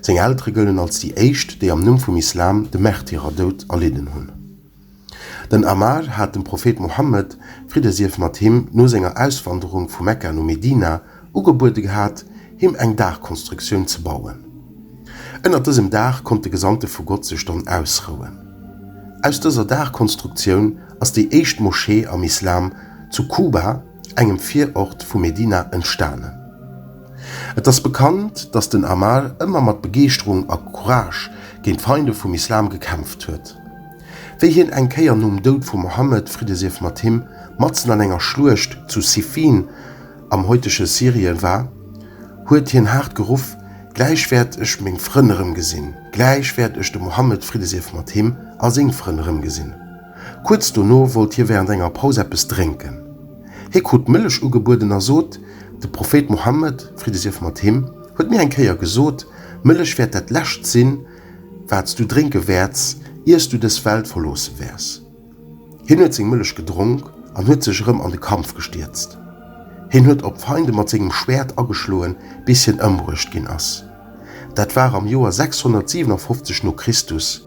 Seng Eltere gëllen als déi éischt, déi am Numm vum Islam de Märtyrerdoud erlidden hunn. Den Ammar hat dem Prophet Mohammed, Fridde sief mat him, no senger Auswanderung vu Mekka no Medina, ugebuede gehat, him eng Daachkonstruktioun ze bauen. Ënnert dësem Daach konnt de Gesandte vu Gott sech dann ausrouen. Aus dëser Daachkonstruktioun ass déi éischt Moschee am Islam zu Kuba, engem Virort vu Medina, entstanen. Et ass bekannt, datt den Ammar ëmmer mat Begeeschterung a Courage géint d'Feinde vum Islam gekämpft huet. Wéi hien eng Kéier nom Doud vum Mohammed, Fridde sief mat him, matzen an enger Schluecht zu Siffin, am heutege Syrien, war, huet hien haart geruff, Gläich wäert ech meng Frënn erëmgesinn, gläich wäert ech de Mohammed, Fridde sief mat him, a seng Frënn erëmgesinn. Kuerz dono wollt hie während enger Paus eppes drénken. Hie krut Mëllech ugebueden a sot, De Prophet Mohammed, Fridde sief mat him, huet mir eng Kéier gesot, Mëllech wäert dat Lescht sinn, wat s du drénke wäerts, ier s du dës Welt verloosse wäers. Hien huet seng Mëllech gedronk an huet sech erëm an de Kampf gestierzt. Hien huet op d'Feinde mat sengem Schwäert ageschloen, bis hien ëmbruecht ginn ass. Dat war am Joer 657 no Christus.